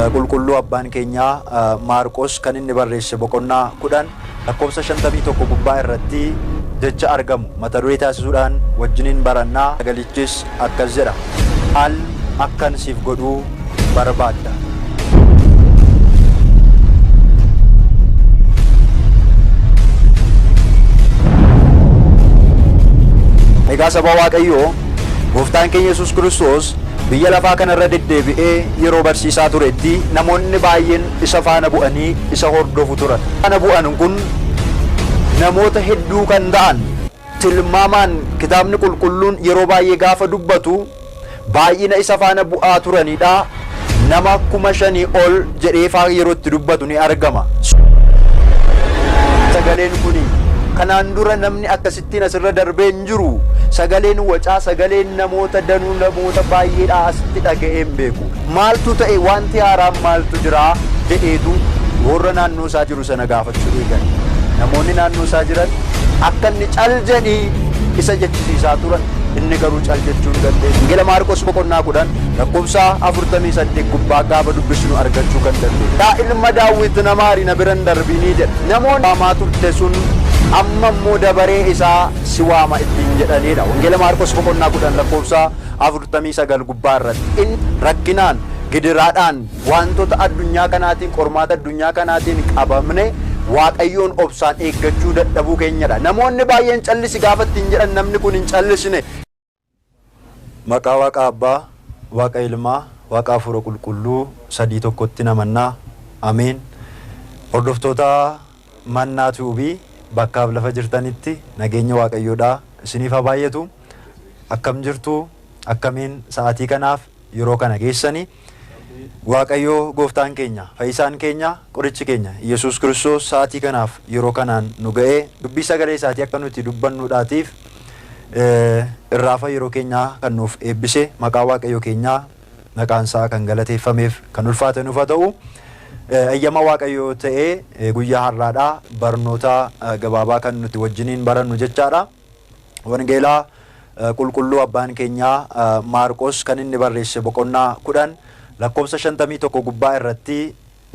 Qulqulluu Abbaan keenyaa Maarqos kan inni barreesse boqonnaa 10 lakkoofsa 51 gubbaa irratti jecha argamu mata duree taasisuudhaan wajjiniin baranna. Sagalichis akkas jedha, Al akkan siif godhuu barbaadda. Egaa saba Waaqayyoo Gooftaan keenya Yesuus Kiristoos biyya lafaa kana irra deddeebi'ee yeroo barsiisaa turetti namoonni baay'een isa faana bu'anii isa hordofu turan. Faana bu'an kun namoota hedduu kan ta'an tilmaamaan Kitaabni Qulqulluun yeroo baay'ee gaafa dubbatu baay'ina isa faana bu'aa turanidha. Nama kuma shanii ol jedhee faa yeroo itti dubbatu ni argama. Sagaleen kun kanaan dura namni akkasitti. Wantin asirra darbee hin jiru. Sagaleen wacaa, sagaleen namoota danuu, namoota baay'eedhaa asitti dhaga'ee hin beeku. Maaltu ta'e, wanti haaraan maaltu jira jedheetu warra naannoo isaa jiru sana gaafachuu eegale. Namoonni naannoo isaa jiran akka inni cal jedhii isa jechisiisaa turan. Inni garuu cal jechuu hin dandeenye. Wangeela Maarqos boqonnaa kudhan lakkoofsa afurtamii saddeet gubbaa gaafa dubbisnu argachuu kan dandeenyu. Yaa ilma Daawwit na maari na bira hin darbinii jedha. Namoonni waamaa turte sun amma immoo dabaree isaa si waama ittiin jedhaniidha. Wangeela Maarqos boqonnaa 10 lakkoofsa 49 gubbaa irratti. Inni rakkinaan, gidiraadhaan, waantota addunyaa kanaatiin, qormaata addunyaa kanaatiin qabamne Waaqayyoon obsaan eeggachuu dadhabuu keenyadha. Namoonni baay'een callisi gaafa ittiin jedhan namni kun hin callisne. Maqaa Waaqa Abbaa, Waaqa Ilmaa, Waaqa Hafuura Qulqulluu sadii tokkottin amanna. Ameen. Hordoftoota Mannaa Tube bakkaaf lafa jirtanitti nageenyi Waaqayyoodhaa isiniif haa baay'atu. Akkam jirtu? Akkamiin sa'aatii kanaaf yeroo kana geessani? Waaqayyoo gooftaan keenya, fayyisaan keenya, qorichi keenya Iyyasuus Kiristoos sa'aatii kanaaf yeroo kanaan nu ga'ee dubbii sagalee isaatii akka nuti dubbannuudhaatiif irraafa yeroo keenyaa kan nuuf eebbise maqaa Waaqayyoo keenyaa maqaan isaa kan galateeffameef kan ulfaate nuuf haa ta'u. Eyyama Waaqayyoo ta'ee guyyaa har'aadhaa barnoota gabaabaa kan nuti wajjiniin barannu jechaadha. Wangeela Qulqulluu Abbaan keenya Maarqos kan inni barreesse boqonnaa 10 lakkoofsa 51 gubbaa irratti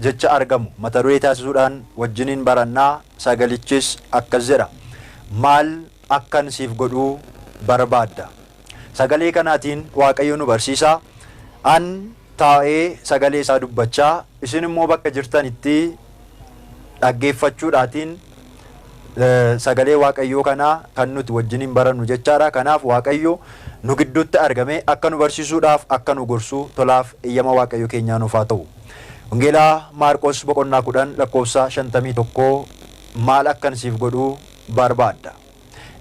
jecha argamu mata duree taasisuudhaan wajjiniin baranna sagalichis akkas jedha maal akkan siif godhuu barbaadda sagalee kanaatiin waaqayyo nu barsiisa an taa'ee sagalee isaa dubbachaa, isin immoo bakka jirtanitti dhaggeeffachuudhaatiin sagalee Waaqayyoo kana kan nuti wajjiniin barannu jechaa dha. Kanaaf Waaqayyo nu gidduutti argamee akka nu barsiisuudhaaf, akka nu gorsu tolaaf eyyama Waaqayyo keenyaa nuuf haa ta'u. Wangeela Maarqos boqonnaa 10 lakkoofsa 51 maal akkan siif godhu baarbaadda?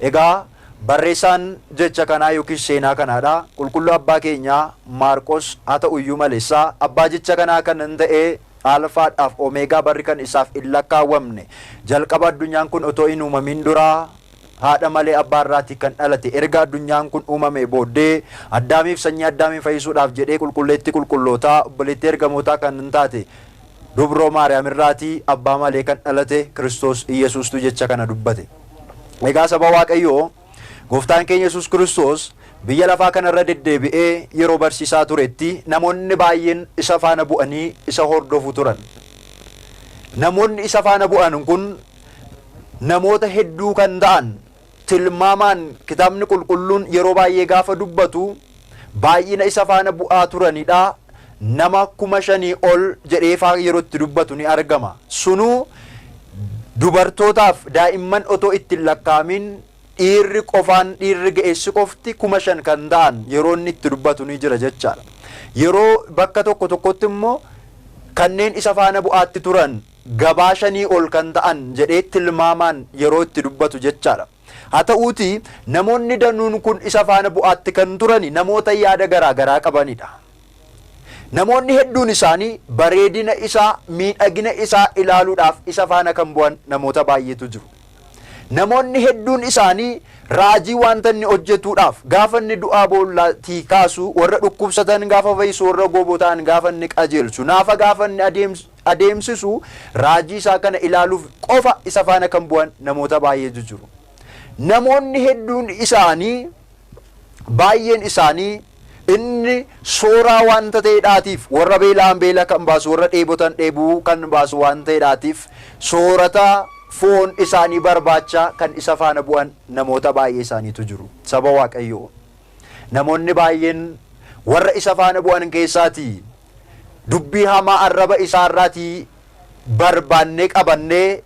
Egaa barreessaan jecha kanaa yookiis seenaa kanaadha. Qulqulluu Abbaa keenyaa Maarqos haa ta'u iyyuu malessa abbaa jecha kanaa kan in ta'ee Alfaadhaaf Omeegaa barri kan isaaf in lakkaawwamne jalqaba addunyaan kun otoo hin uumamiin duraa haadha malee abbaa irraatii kan dhalate erga addunyaan kun uumamee booddee Addaamiif sanyii Addaamiin fayyisuudhaaf jedhee qulqulleettii qulqullootaa obboleettii ergamootaa kan in taate Dubroo Maariyaam irraati abbaa malee kan dhalate Kiristoos Iyyasuustu jecha kana dubbate. Egaa saba Waaqayyoo, Gooftaan keenya Yesuus Kiristoos biyya lafaa kana irra deddeebi'ee yeroo barsiisaa turetti namoonni baay'een isa faana bu'anii isa hordofu turan. Namoonni isa faana bu'an kun namoota hedduu kan ta'an tilmaamaan kitaabni qulqulluun yeroo baay'ee gaafa dubbatu baay'ina isa faana bu'aa turanidha. Nama kuma shanii ol jedhee faa yeroo itti dubbatu ni argama. Sunuu dubartootaaf daa'imman otoo itti hin lakkaa'amin dhiirri qofaan dhiirri ga'eessi qofti kuma shan kan ta'an yeroo inni itti dubbatu ni jira jechaadha. Yeroo bakka tokko tokkotti immoo kanneen isa faana bu'aatti turan gabaa shanii ol kan ta'an jedhee tilmaamaan yeroo itti dubbatu jechaadha. Haa ta'uutii namoonni danuun kun isa faana bu'aatti kan turani namoota yaada garaa garaa qabanidha. Namoonni hedduun isaanii bareedina isaa, miidhagina isaa ilaaluudhaaf isa faana kan bu'an namoota baay'eetu jiru. Namoonni hedduun isaanii raajii wanta inni hojjetuudhaaf gaafa inni du'aa boollaatii kaasu, warra dhukkubsatan gaafa fayyisu, warra gooboo ta'an gaafa inni qajeelchu, naafa gaafa inni adeemsu, adeemsisu, raajii isaa kana ilaaluuf qofa isa faana kan bu'an namoota baay'eetu jiru. Namoonni hedduun isaanii, baay'een isaanii, inni sooraa waanta ta'edhaatiif, warra beela'an beela kan baasu, warra dheebotan dheebuu kan baasu waan ta'edhaatiif, soorata foon isaanii barbaacha kan isa faana bu'an namoota baay'ee isaaniitu jiru. Saba Waaqayyoo! Namoonni baay'een warra isa faana bu'an keessaatii Dubbii hamaa arraba isaa irraatii barbaannee qabannee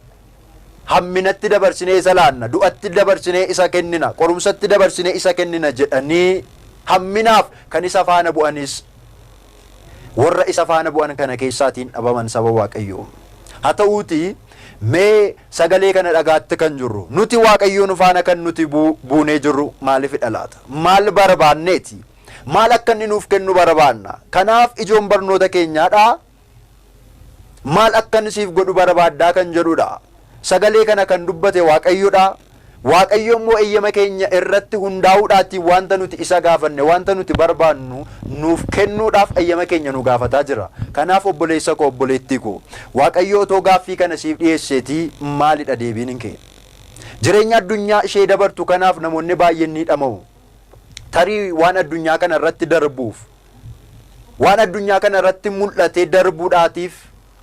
hamminatti dabarsinee isa laanna, du'atti dabarsinee isa kennina, qorumsatti dabarsinee isa kennina jedhanii hamminaaf kan isa faana bu'anis warra isa faana bu'an kana keessaatiin dhabaman saba Waaqayyoo. Haa ta'uutii mee sagalee kana dhagaatti kan jirru nuti Waaqayyoon faana kan nuti buunee jirru maalifidha laata? Maal barbaanneeti? Maal akka inni nuuf kennu barabaanna. Kanaaf ijoon barnoota keenyaa dha. Maal akkan siif godhu barabaaddaa kan jedhu dha. Sagalee kana kan dubbate Waaqayyo dha. Waaqayyo immoo eyyama keenya irratti hundaa'uudhaatiin wanta nuti isa gaafanne, wanta nuti barbaannu nuuf kennuudhaaf eyyama keenya nu gaafataa jira. Kanaaf obboleessa koo, obboleettii koo, Waaqayyo otoo gaaffii kana siif dhiyeesseetii maalidha deebiin kee? Jireenya addunyaa ishee dabartu kanaaf namoonni baay'een ni dhama'u. tarii waan addunyaa kana irratti darbuuf waan addunyaa kana irratti mul'atee darbuudhaatiif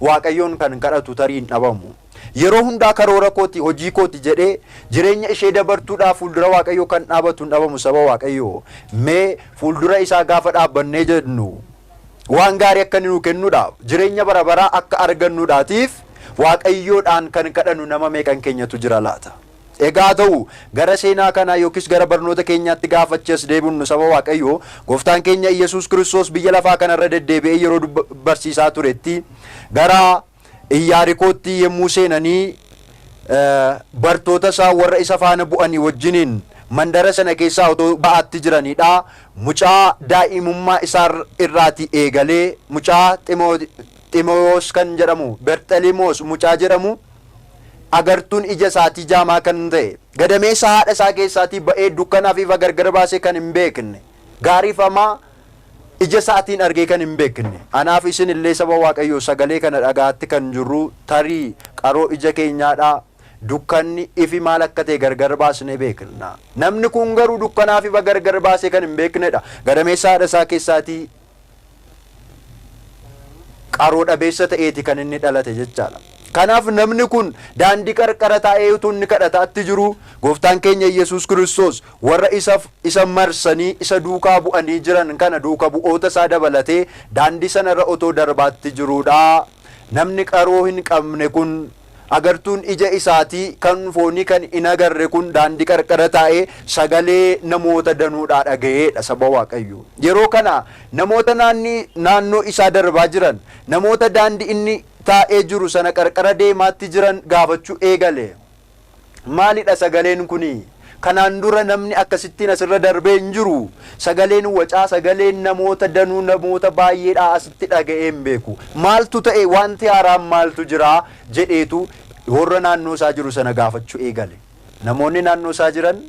waaqayyoon kan kadhatu tarii hin dhabamu. Yeroo hundaa karoora kooti hojii kooti jedhee jireenya ishee dabartuudhaaf fuuldura waaqayyoo kan dhaabatu hin dhabamu saba waaqayyoo mee fuuldura isaa gaafa dhaabbannee jennu waan gaarii akka inni nu kennuudhaaf jireenya bara baraa akka argannuudhaatiif waaqayyoodhaan kan kadhannu nama meeqan keenyatu jira laata. Egaa haa ta'u, gara seenaa kanaa yookiis gara barnoota keenyaatti gaafa achi as deebinnu saba Waaqayyoo, Gooftaan keenya Iyyesuus Kiristoos biyya lafaa kana irra deddeebi'ee yeroo barsiisaa turetti, gara Iyyaarikootti yemmuu seenanii bartoota isaa warra isa faana bu'anii wajjiniin mandara sana keessaa otoo ba'aatti jiranii dha. Mucaa daa'imummaa isaa irraatii eegalee mucaa Ximewos kan jedhamu Berxelimos mucaa jedhamu agartuun ija isaatii jaamaa kan ta'e, gadameessa haadha isaa keessaatii ba'ee dukkanaa fi ifa gargar baasee kan hin beekne, gaarii fi hamaa ija isaatiin argee kan hin beekne. Anaa fi isin illee saba Waaqayyoo sagalee kana dhaga'aatti kan jirruu tarii qaroo ija keenyaa dha, dukkanni, ifi maal akka ta'e gargar baasnee beekna. Namni kun garuu dukkanaa fi ifa gargar baasee kan hin beekne dha, gadameessa haadha isaa keessaatii qaroo dhabeessa ta'eeti kan inni dhalate jechaadha. Kanaaf namni kun daandii qarqara taa'ee utuu inni kadhataatti jiru gooftaan keenya Yesuus Kiristoos warra isa isa marsanii isa duukaa bu'anii jiran kana duuka bu'oota isaa dabalatee daandii sanarra otoo darbaatti jiruudha. Namni qaroo hin qabne kun Agartuun ija isaatii kan foonii kan hin agarre kun daandii qarqara taa'ee sagalee namoota danuudhaa dhaga'ee dha, saba Waaqayyoo. Yeroo kana namoota naanni, naannoo isaa darbaa jiran, namoota daandii inni taa'ee jiru sana qarqara deemaatti jiran gaafachuu eegale. Maalidha sagaleen kuni? Kanaan dura namni akkasittiin asirra darbee hin jiru. Sagaleen wacaa sagaleen namoota danuu namoota baay'eedhaa asitti dhaga'ee hin beeku. Maaltu ta'e waanti haaraan maaltu jira jedheetu warra naannoo isaa jiru sana gaafachuu eegale. Namoonni naannoo isaa jiran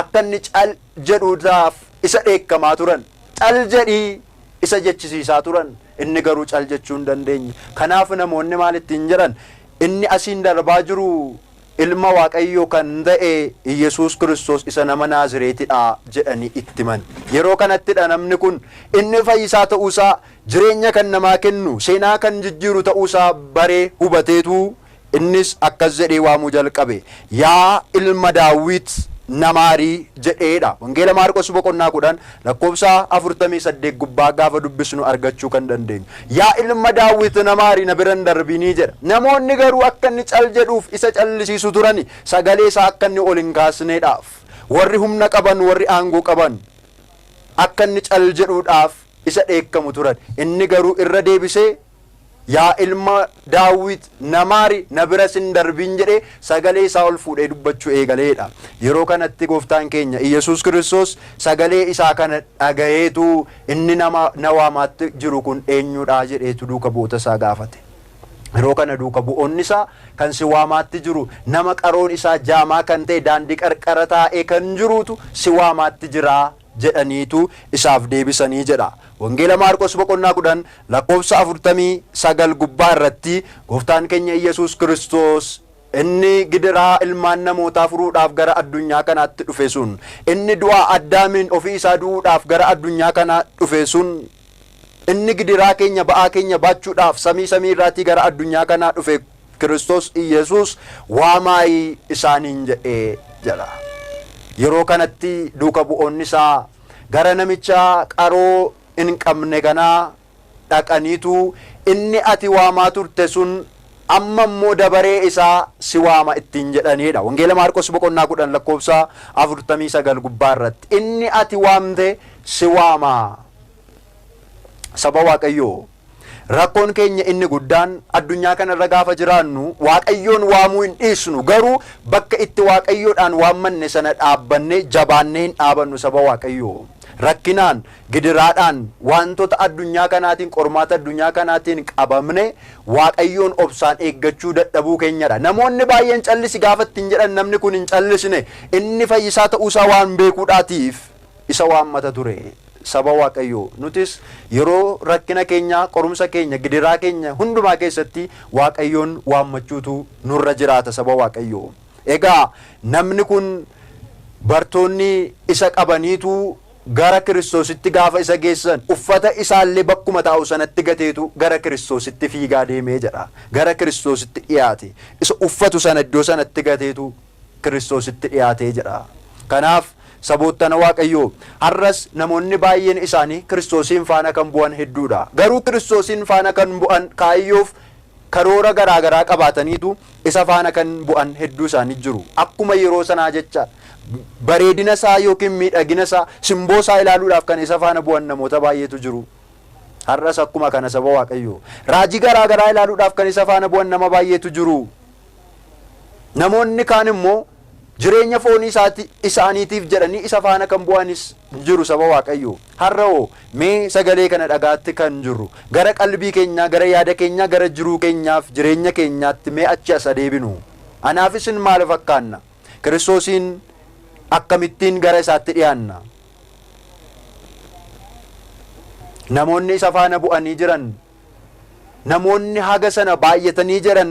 akka inni cal jedhuudhaaf isa dheekkamaa turan. Cal jedhi! isa jechisiisaa turan. Inni garuu cal jechuu hin dandeenye. Kanaaf namoonni maal ittiin jedhan? Inni asiin darbaa jiru Ilma Waaqayyoo kan ta'e Iyyasuus Kiristoos isa nama Naazireeti dha jedhanii itti himan. Yeroo kanatti dha namni kun inni fayyisaa ta'uu isaa, jireenya kan namaa kennu, seenaa kan jijjiiru ta'uu isaa baree, hubateetu innis akkas jedhee waamuu jalqabe, Yaa ilma Daawwit na maari! jedhee dha. Wangeela Maarqos boqonnaa 10 Lakkoofsa afurtamii saddeet gubbaa gaafa dubbisnu argachuu kan dandeenyu, Yaa ilma Daawit na maari, na bira hin darbini jedha. Namoonni garuu akka inni cal jedhuuf isa callisiisu turani, sagalee isaa akka inni ol hin kaasneedhaaf. Warri humna qaban, warri aangoo qaban akka inni cal jedhuudhaaf isa dheekkamu turan. Inni garuu irra deebisee Yaa ilma Daawwit, na maari, na biras hin darbin jedhee sagalee isaa ol fuudhee dubbachuu eegalee dha. Yeroo kanatti Gooftaan keenya Iyyasuus Kiristoos sagalee isaa kana dhagayeetu inni nama na waamaatti jiru kun eenyu dha jedheetu duuka bu'oota isaa gaafate. Yeroo kana duuka bu'oonni isaa kan si waamaatti jiru nama qaroon isaa jaamaa kan ta'e daandii qarqara taa'ee kan jiruutu si waamaatti jira jedhaniitu isaaf deebisanii jedha. Wangeela Maarqos boqonnaa 10 lakkoofsa 49 gubbaa irratti Gooftaan keenya Iyyasuus Kiristoos inni gidiraa ilmaan namootaa furuudhaaf gara addunyaa kanaatti dhufe sun, inni du'a Addaamiin ofii isaa du'uudhaaf gara addunyaa kanaa dhufe sun, Inni gidiraa keenya, ba'aa keenya baachuudhaaf samii samii irraatii gara addunyaa kanaa dhufe Kiristoos Iyyasuus waamaayi isaaniin jedhe jedha. Yeroo kanatti duuka bu'oonni isaa gara namicha qaroo hin qabne kanaa dhaqaniitu inni ati waamaa turte sun amma immoo dabaree isaa si waama ittiin jedhaniidha. Wangeela Maarqos boqonnaa 10 lakkoofsa 49 gubbaa irratti inni ati waamte si waama. Saba Waaqayyoo rakkoon keenya inni guddaan addunyaa kana irra gaafa jiraannu Waaqayyoon waamuu hin dhiisnu garuu bakka itti Waaqayyoodhaan waammanne sana dhaabbannee jabaannee hin dhaabannu saba Waaqayyoo rakkinaan Gidiraadhaan waantota addunyaa kanaatiin, qormaata addunyaa kanaatiin qabamne Waaqayyoon obsaan eeggachuu dadhabuu keenyadha. Namoonni baay'een callisi gaafa ittiin jedhan namni kun hin callisne. Inni fayyisaa ta'uu isaa waan beekuudhaatiif isa waammata ture. Saba Waaqayyoo, nutis yeroo rakkina keenyaa, qorumsa keenya, gidiraa keenya hundumaa keessatti Waaqayyoon waammachuutu nurra jiraata saba Waaqayyoo. Egaa namni kun bartoonni isa qabaniitu. Gara Kiristoositti gaafa isa geessan, uffata isaallee bakkuma taa'u sanatti gateetu gara Kiristoositti fiigaa deeme jedha. Gara Kiristoositti dhiyaate. Isa uffatu sana iddoo sanatti gateetu Kiristoositti dhiyaate jedha. Kanaaf, saboottan Waaqayyoo, har'as namoonni baay'een isaanii Kiristoosiin faana kan bu'an hedduudha. Garuu Kiristoosiin faana kan bu'an kaayyoof karoora garaa garaa qabaataniitu isa faana kan bu'an hedduu isaanii jiru. Akkuma yeroo sanaa jecha bareedina isaa yookiin miidhagina isaa, simboo isaa ilaaluudhaaf kan isa faana bu'an namoota baay'eetu jiru. Har'as akkuma kana saba Waaqayyoo. Raajii garaa garaa ilaaluudhaaf kan isa faana bu'an nama baay'eetu jiru. Namoonni kaan immoo Jireenya foonii isaati, isaaniitiif jedhanii isa faana kan bu'anis ni jiru saba Waaqayyoo. Har'a hoo mee sagalee kana dhagaatti kan jirru gara qalbii keenyaa, gara yaada keenyaa, gara jiruu keenyaaf jireenya keenyaatti mee achi as adeebinu. Anaaf isin maal fakkaanna? Kiristoosiin akkamittiin gara isaatti dhiyaanna? Namoonni isa faana bu'anii jiran, namoonni haga sana baay'atanii jiran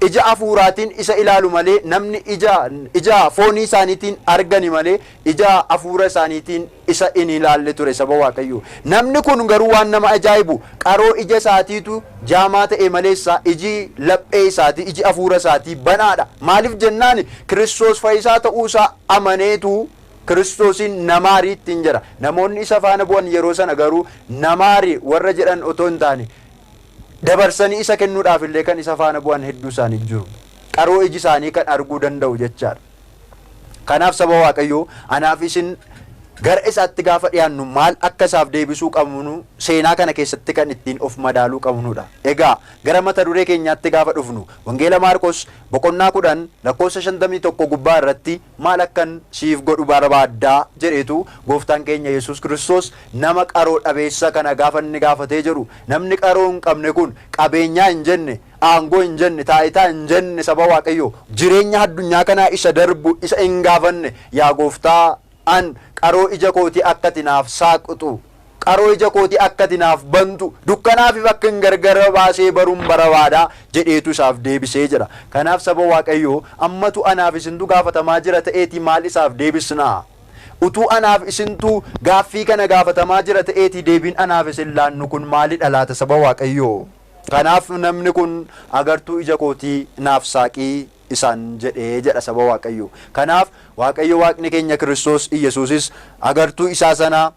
Ija hafuuraatiin isa ilaalu malee namni ija, ija foonii isaaniitiin argani malee ija hafuura isaaniitiin isa hin ilaalle ture saba Waaqayyoo. Namni kun garuu waan nama ajaa'ibu qaroo ija isaatiitu jaamaa ta'e maleessa iji laphee isaatii, iji hafuura isaatii banaadha. Maaliif jennaan Kiristoos fayyisaa ta'uu isaa amaneetu Kiristoosiin namaari ittiin jedha. Namoonni isa faana bu'an yeroo sana garuu namaari warra jedhan otoo hin taane dabarsanii isa kennuudhaaf illee kan isa faana bu'an hedduu isaanii jiru. Qaroo iji isaanii kan arguu danda'u jechaadha. Kanaaf saba Waaqayyoo anaaf isin gara isaatti gaafa dhiyaannu maal akka isaaf deebisuu qabnu seenaa kana keessatti kan ittiin of madaaluu qabnudha. Egaa gara mata duree keenyaatti gaafa dhufnu Wangeela Maarqos boqonnaa kudhan lakkoofsa shantamii tokko gubbaa irratti Maal akkan siif godhu barbaadda? jedheetu Gooftaan keenya Yesuus Kiristoos nama qaroo dhabeessa kana gaafa inni gaafatee jedhu. Namni qaroo hin qabne kun qabeenyaa hin jenne, aangoo hin jenne, taayitaa hin jenne saba Waaqayyoo, jireenya addunyaa kanaa isa darbu isa hin gaafanne, Yaa Gooftaa, an qaroo ija kootii akka ati naaf saaqxu Qaroo ija kooti akka ati naaf bantu, dukkanaafif akkan gargara baasee barun barabaada jedheetu isaaf deebisee jedha. Kanaaf saba Waaqayyoo ammatu anaaf isintu gaafatamaa jira ta'eeti maal isaaf deebisnaa? Utuu anaaf isintu gaaffii kana gaafatamaa jira ta'eeti deebiin anaaf isin laannu kun maalidha laata saba Waaqayyoo? Kanaaf namni kun agartuu ija kootii naaf saaqi isaan jedhe jedha saba Waaqayyoo. Kanaaf Waaqayyo Waaqni keenya Kiristoos Iyyasuusis agartuu isaa sana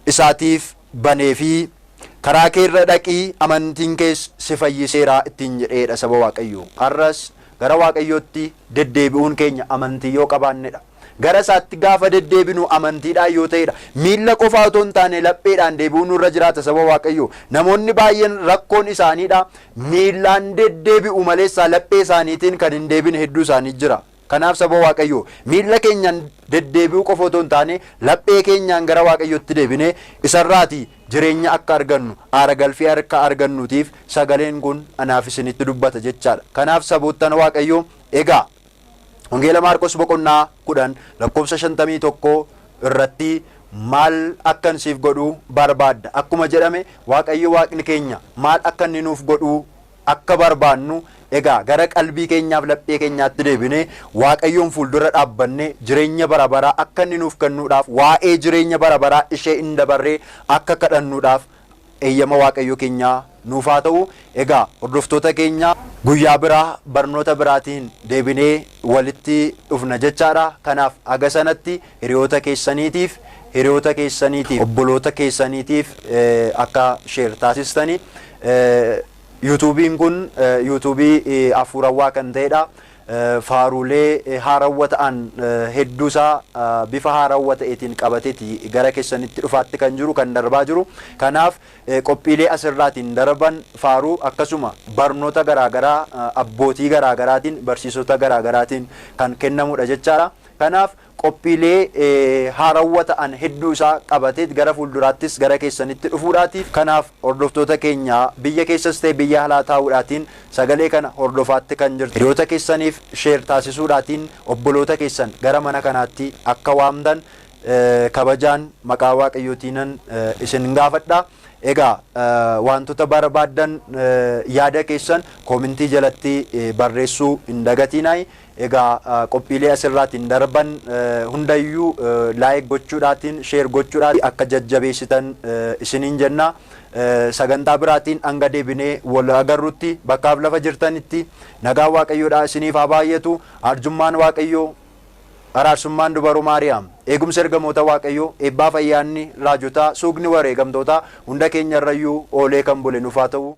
isaatiif baneefii, Karaa kee irra dhaqi, amantiin kees si fayyiseera ittiin jedhee dha saba Waaqayyoo. Har'as gara Waaqayyootti deddeebi'uun keenya amantii yoo qabaanne dha. Gara isaatti gaafa deddeebinu amantiidhaan yoo ta'e dha. Miilla qofaa otoo hin taane lapheedhaan deebi'uu nurra jiraata saba Waaqayyoo. Namoonni baay'een rakkoon isaanii dha miillaan deddeebi'u maleessaa laphee isaaniitiin kan hin deebine hedduu isaanii jira. Kanaaf saba Waaqayyoo, miilla keenyaan deddeebi'uu qofa otoo hin taane, laphee keenyaan gara Waaqayyootti deebinee isarraati jireenya akka argannu, aara galfii akka argannuutiif sagaleen kun anaaf isinitti dubbata jechaadha. Kanaaf saboottan Waaqayyoo, egaa Wangeela Maarqos boqonnaa 10 lakkoofsa 51 irratti maal akkan siif godhu barbaadda? Akkuma jedhame Waaqayyo Waaqni keenya maal akka inni nuuf godhu akka barbaannu egaa gara qalbii keenyaaf laphee keenyaatti deebinee Waaqayyoon fuuldura dhaabbannee jireenya bara baraa akka inni nuuf kennuudhaaf waa'ee jireenya bara baraa ishee hin dabarree akka kadhannuudhaaf eeyyama Waaqayyoo keenyaa nuuf haa ta'u egaa hordoftoota keenya guyyaa biraa barnoota biraatiin deebinee walitti dhufna jechaadha kanaaf haga sanatti Hiriyoota keessaniitiif, hiriyoota keessaniitiif, obboloota keessaniitiif akka share taasistani. Yuutuubiin kun yuutuubii hafuurawwaa kan ta'edha. Faaruulee haarawwa ta'an hedduusaa bifa haarawwa ta'eetiin qabateeti gara keessanitti dhufaatti kan jiru kan darbaa jiru. Kanaaf qophiilee asirraatiin darban faaruu akkasuma barnoota garaagaraa abbootii garaagaraatiin barsiisota garaagaraatiin kan kennamudha jechaadha. Kanaaf qophiilee haarawwa ta'an hedduu isaa qabateet gara fuulduraattis gara keessanitti dhufuudhaatiif kanaaf hordoftoota keenya biyya keessas ta'e biyya alaa taa'uudhaatiin sagalee kana hordofaatti kan jirtan hiriyoota keessaniif share taasisuudhaatiin obboloota keessan gara mana kanaatti akka waamtan kabajaan maqaa waaqayyootiinan isin gaafadha. Egaa waantota barbaaddan yaada keessan koomintii jalatti barreessuu hin dagatiinaayi. Egaa qophiilee as irraatiin darban hundayyuu like gochuudhaatiin share gochuudhaatiin akka jajjabeessitan isiniin jenna. Sagantaa biraatiin hanga deebinee wal agarrutti bakkaaf lafa jirtanitti nagaan Waaqayyoodhaa isiniif haa baay'atu. Arjummaan Waaqayyoo, araarsummaan Dubaroo Maariyaam, eegumsi ergamoota Waaqayyoo, eebbaaf ayyaanni raajotaa, suukni wareegamtootaa hunda keenyarrayyuu oolee kan bule nuuf haa ta'u.